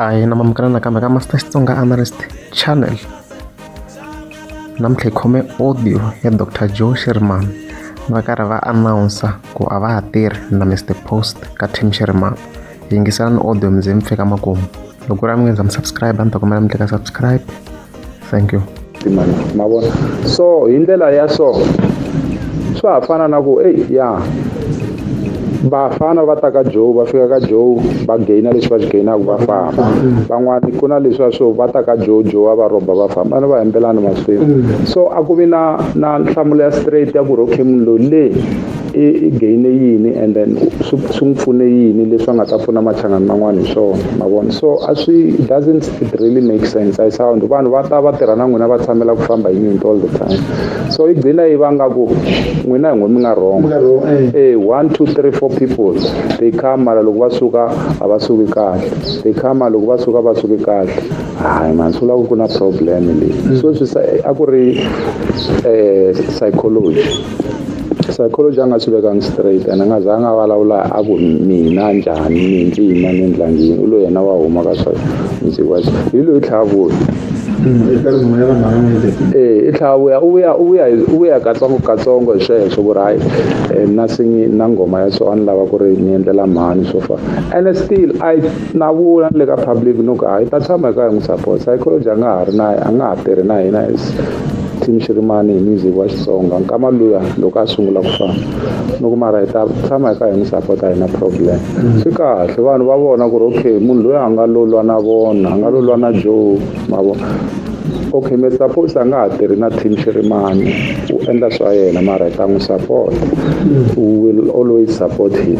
hayi na mamukana nakambe ka master xitsonga analyst channel namuntlha hi khome audio ya dr joe sherman va karhi va announsa ku a va ha tirhi na mr post ka team sherman yingiselani audio mi ze mi fika makumu loko ku ri a mi nge ndza mi subscribe a ni ta kombela mi teka subscribe thank you timali ma vona so hi ndlela ya so swa ha fana na ku eyi ya vafana va ta ka joe va fika ka joe va gaina leswi va swi gainaka va famba van'wani ku na leswiya swo va ta ka joe joe a va rhomba va famba vana va hembelani masiku so a ku vi na na nhlamulo ya straight ya ku ri okay munhu loyi le i i gaine yini and then swi swi n'wi pfune yini leswi a nga ta pfuna machangani man'wana hi swona ma vona so a swi doesn't it really make sense I sound vanhu va ta va tirha na n'wina va tshamela ku famba hi nyinto all the time so yi gcina yi vanga ku n'wina hi ngo mi nga wrong eh. eh one two three four people they come mara loko va suka a va suki kahle they come loko va suka va suki kahle hayi mani swi vula ku ku na problem leyi mm. so swi a ku ri um psychology psychology a nga swi vekangi straight and a nga zanga a vulavula a ku mina njhani ni ndzi yima ni ndla njhini u lo yena wa huma ka swa ndzi wa hi loyi tlhavuya ee i tlhavuya u vuya u vuya u vuya katsongokatsongo hi sweswo ku ri hayi um na singi na nghoma ya so a ni lava ku ri ni endlela mhani swo fana ene still i na vula ni le ka public no ku hayi ta tshama hi ka hi n'wi support psychology a nga ha ri na a nga ha tirhi na hina as Team Xirimani hi music wa Xitsonga nkama luya loko a sungula ku fana ni ku mara hi ta tshama hi kha hi n'wi sapota hi na problem swi kahle vanhu va vona ku ri okay munhu loyi a nga lolwa na vona a nga lolwa na Joe ma vona okay mi suppose a nga ha tirhi na team Xirimani u endla swa yena mara hi ta n'wi support we will always support him